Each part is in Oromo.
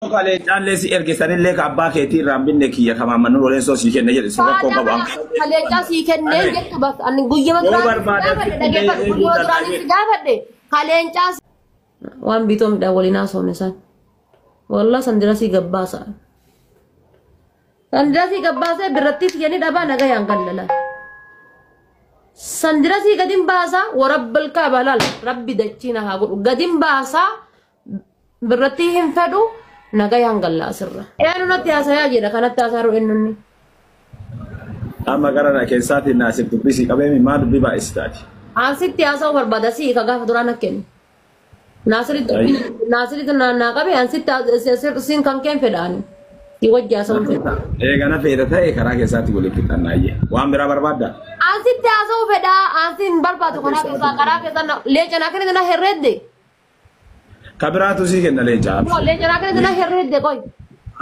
Kalee caallee si erge sanillee ka abbaa keetii irraan binne kiyya ka maammannu roleessoo sii kenne jedhe si rakkoon qabu an Kaleechaa sii kennee Kale. jettu bakka ani guyyama Yoo duraan barbaadan gaafadhe sitti illee dhaggeeffadhu yoo guyyama eeguudhaan duraan itti gaafadhe kaleencaa waan biitoo midhaan waliin haasofne san wallah san dirasii gabbaasa san dirasii gabbaasee birrattii siyyanii dhabaa nagayaan gallala san dirasii gadin baasaa warabbal kaabalaal rabbi dachiina haa godhu gadin baasaa birratti hin fedhu nagayaan gallaa sirra. Eenu natti haasayaa jedha kanatti haasaaru ennunni. Amma gara na keessaati naasif dubbisii qabeemi maa dubbii baay'istaati. Asitti haasa'uu barbaada si ka gaafa duraa na kennu. Naasiritti Ayyo. naasiritti naa naa qabe ansitti siin kan keen fedhaani. Si wajji haasa'uu fedha. Eega na feeta ta'e karaa keessaatti waliin fixannaa ayye. Waan biraa barbaadda? Ansitti haasa'uu fedha ansi hin barbaadu karaa keessaa karaa keessaa na- leeca naa kennite na herreedde. Ka biraatu sii kenna leenca Kumoo abshir. leenca naa kenna jennaan herree hedde qoy.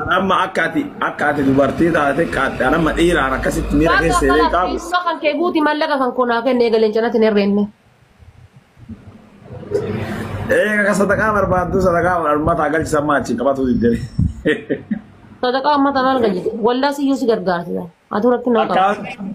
An amma akka ati akka ati dubartii taate qaaxxe an amma dhiiraan akkasitti miira Gaafii keessa illee akkanaaf qaabu. dhiisuma kan kee guuti mallaqa kan koo naa kenne eega leenca natti hin herreenne. Eega ka sadaqaa barbaaddu sadaqaa uummataa galchisan maa achiin qabatu diddee. Sadaqaa ummata maal galchite? Wallaa siyyuu si gargaarti. Atuu rakkina qaba. Akkaawuntii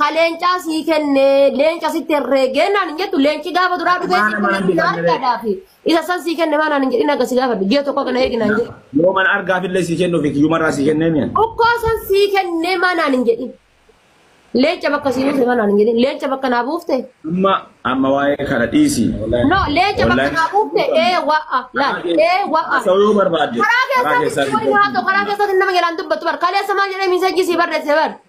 ka leencaa sii kenne leenca sitti herreegee naan hin jettu leenci gaafa duraa dhufee Maana sitti maana herreegee jedhan argaadhaa fi isa san sii kenne maanaan hin jedhin akka si gaafadhu ji'a tokko kana eegi naan jedhu. Yoo mana argaaf illee sii kennuuf kiyyuma irraa sii kennee mi'a. Dhukkoo san sii kennee maanaan hin jedhin. Leenca bakka sii buufte maanaan hin jedhin. Leenca bakka naa buufte. Amma amma waa'ee kana dhiisi. No leenca bakka Wallahi. naa buufte ee wa'a laal ee wa'a. Haasa'uu yoo barbaadde. Karaa keessatti waliin haa ta'u karaa keessatti nama jalaan dubbatu bar kaleessa maal jedhee miisajjii sii barreesse bar.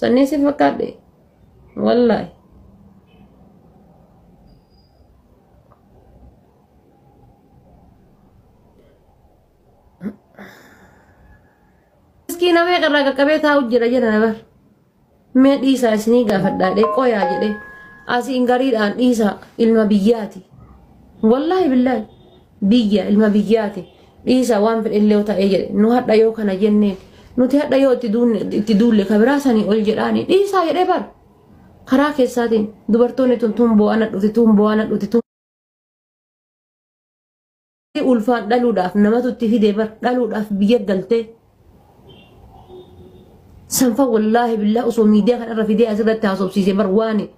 Sannii si fakkaadhe. Wallaahi. Miskiina meeqa irraa qaqqabee taa'u jira jira bar. Mee dhiisaa isinii gaafadhaa dhee qoyaa jedhee asiin gariidhaan dhiisaa ilma biyyaati. Wallaahi billaahi biyya ilma biyyaati. Dhiisa waan fedhellee yoo ta'ee jedhe nu hadha yoo kana jenneen nuti hadha yoo itti duunne- itti duulle ka biraa sanii ol jedhaanii dhiisaa jedhee bar karaa keessaatiin dubartoonni tun tun boo'ana dhufti tun boo'ana dhufti tun ulfaan dhaluudhaaf namatu itti fide bar dhaluudhaaf biyya galtee sanfa wallaahi billaa osoo miidiyaa kanarra fidee asirratti haasofsiise bar waani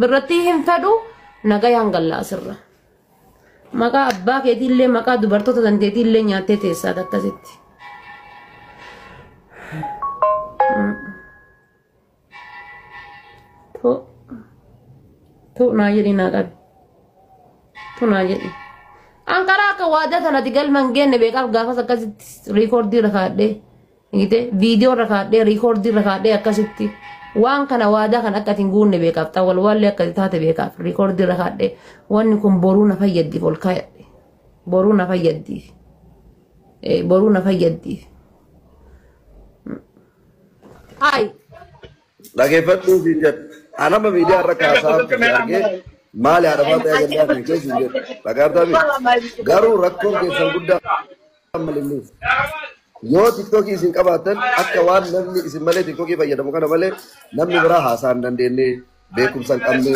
birratti hin fedhu nagayaan gallaa sirra. Maqaa abbaa keetii illee maqaa dubartoota dandeetii illee nyaattee teessaa akkasitti. Tuu naa jedhi naa qabi. Tuu naa jedhi. An karaa akka waadaa kanatti galma hin geenne beekaaf gaafas akkasitti riikoordii irra kaadhee. Gite viidiyoo irra kaadhee riikoordii irra kaadhee akkasitti waan kana waadaa kan akka atiin guunne beekaaf xawwal waallee akka taate beekaaf riikoordii irra kaadhee wanni kun boruu na fayyaddiif ol kaayadhe boruu na fayyaddiif boruu na fayyaddiif. Hayi. Dhaggeeffadhuu fi jedhu. Anama miidiyaa irra kaasaa argee maali haadha faataa jallaa kan keessa hin jedhu. Dhagaabtaa fi garuu rakkoon keessan guddaa. Ammalillee yoo tiktookii isin qabaattan akka waan namni isin malee tiktookii fayyadamu kana malee namni biraa haasaa hin dandeenye beekumsa hin qabne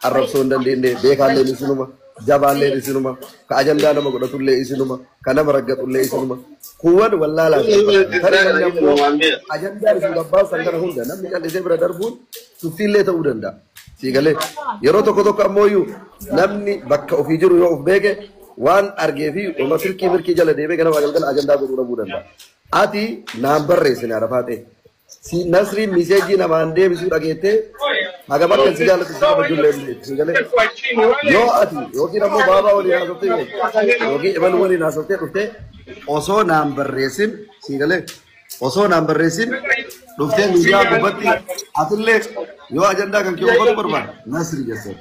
arrabsoo hin dandeenye beekaalleen isinuma jabaalleen isinuma ka ajandaa nama godhatullee isinuma ka nama raggatullee isinuma kuuwwan wallaalaa isin fakkaatan tarii namni ammoo ajandaa isin gabbaasan kana hunda namni callisee bira darbuun tuffiillee ta'uu danda'a. Sii galee yeroo tokko tokko ammoo namni bakka ofii jiru yoo of beeke waan argee fi oma silkii mirkii jala deemee ganama galgala ajandaa godhuu dhabuu danda'a. Ati naan barreessine arafaa ta'e. Si nasriin miseejii namaan deebisuu dhageettee hagam akka si jaallatu si qaba ijoollee hin beektu. Sii galee yoo ati yookiin ammoo baabaa waliin haasoftee yookiin imaluu waliin haasoftee dhuftee osoo naan barreessin sii galee osoo naan barreessin dhuftee miidiyaa gubbatti atillee yoo ajandaa kan kee oofatu barbaade nasri jessee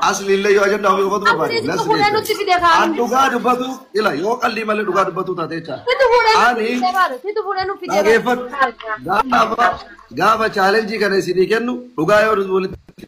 asli illee yoo ajandaa ofii oofatu barbaade Asliitti nasri fuudhee nutti jessee fide kaan. an dhugaa dubbatu ila yoo qallii malee dhugaa dubbatu taate jechaa Situ fuudhee nutti ani fide baale. Situ fuudhee nutti fide dhaggeeffadhu gaafa gaafa chaalenjii kana isinii kennu dhugaa yoo walitti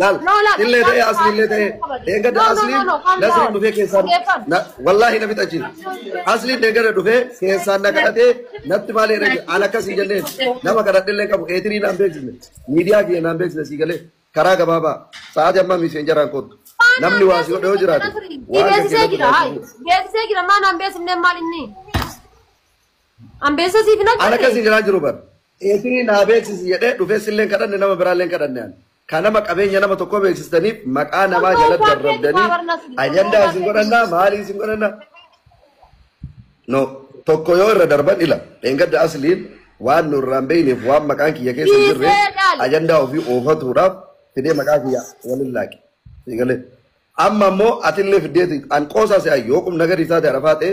laal illee ta'ee asli illee ta'ee eeggata asliin nasriin dhufee keessaan wallaahi na fixachi asliin eeggata dhufee keessaan na kadhatee natti maal eera aan akkasii jenneen nama kadhadhe illee qabu eetirii naan beeksisne miidiyaa kiyya naan beeksisne sii galee karaa gabaabaa sa'aatii ammaa miiseen jaraan koottu namni waa si godhe yoo jiraate waan beeksisee jira beeksisee jira maa naan beeksifne maal inni Ambeessa siif hin Ana agarre. akkasii jiraa jiru bar. Eesini naa beeksisi jedhee dhufee silleen kadhanne nama biraalleen kadhanne ani. Kan nama qabeenya nama tokkoo beeksistaniif maqaa namaa Osoo jalatti isaa keetti arrabdanii baabarnas hin ajandaa isin godhanne. godhannaa maalii isin godhannaa. No tokko yoo irra darban ila dheengadda asliin waan nu irraan beeyneef waan maqaan kiyya keessa hin jirre Dhiisee dhaali. ajandaa ofii oofatuudhaaf fidee maqaa kiyya waliin laaqe. Siigalee. Amma immoo atillee fiddeeti an qoosaa se'a yoo qubna gadi isaa ta'e rafaa ta'e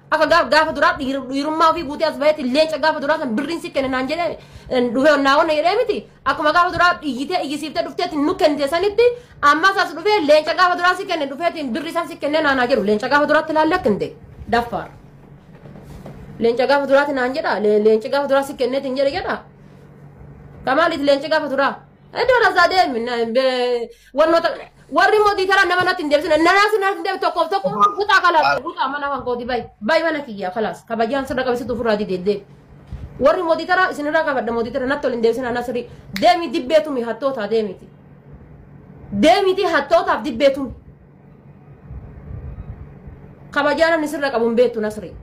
Akka gaaf gaafa duraa dhiir- dhiirummaa ofii guutee as bahetti leenca gaafa duraa san birriin si kenne naan jedhee eh, dhufee naa wanna jedhee miti. Akkuma gaafa duraa iyyitee iyyisiiftee dhufteetti nu kennite sanitti ammas as dhufee leenca gaafa duraa si kenne dhufeetiin birrii san si kennee naanaa jedhu leenca gaafa duraatti ilaallee akka hin ta'e daffaar. Leenca gaafa duraatti naan jedha le- leenci gaafa duraa si kenneetiin jedhe jedha. Kamaaliif leenci gaafa duraa? Iddoo lasaa deemi. Wannoota warri immoo tiitara nama natti hin deebisne nanaa sun natti hin deebi tokkoof tokko butaa kalaas butaa mana kan kooti bayi bayi mana kiyyaa kalaas kabajaan sirra qabisitu ofirraa didee deemi. Warri immoo tiitara isinirraa qabadha immoo tiitara natti ol hin deebisne anaa sirrii deemi dibbeetumi hattootaa deemiti. Deemiti hattootaaf dibbeetumi. Kabajaa namni sirra qabu hin beektu nasrii.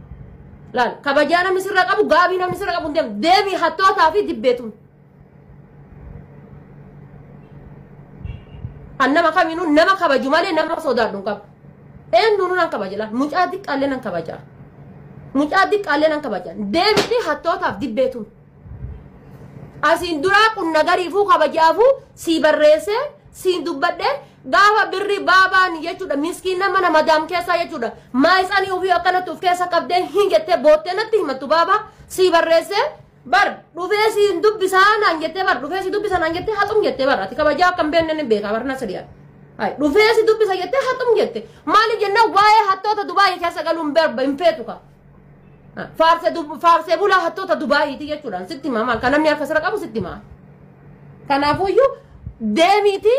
Laal kabajaa namni sirra qabu gaabii namni sirra qabu hin deemu deemi hattootaa fi dibbeetumi. Kan nama kamiinuu nama kabaju malee nama sodaadhu hin qabu. Eenyuun nan kabaja laal mucaa xiqqaallee nan kabaja. Mucaa xiqqaallee nan kabaja. Deebitii hattootaaf dibbeetuun. Asiin duraa qunna gariifuu kabajaafuu sii barreessee siin dubbadhee gaafa birri baabaan jechuudha miskiin nama nama daam keessaa jechuudha maayisanii ofii akkanatti of keessa qabdee hin jettee boottee natti himattu baabaa sii barreessee bar dhufee si hin dubbisaa naan jettee bar dhufee si dubbisa naan jettee haxum jettee bar ati kabajaa akka hin beekne ni beekaa bar na sadiyaa hay dhufee si dubbisa jettee haxum jette maaliif jennaan waa'ee hattoota dubaayii keessa galuu hin barba hin feetu kaa faarse dub- faarsee bulaa hattoota dubaayiiti jechuudhaan sitti himaa maal kan namni harka sira qabu sitti himaa kanaafuyyuu deemiitii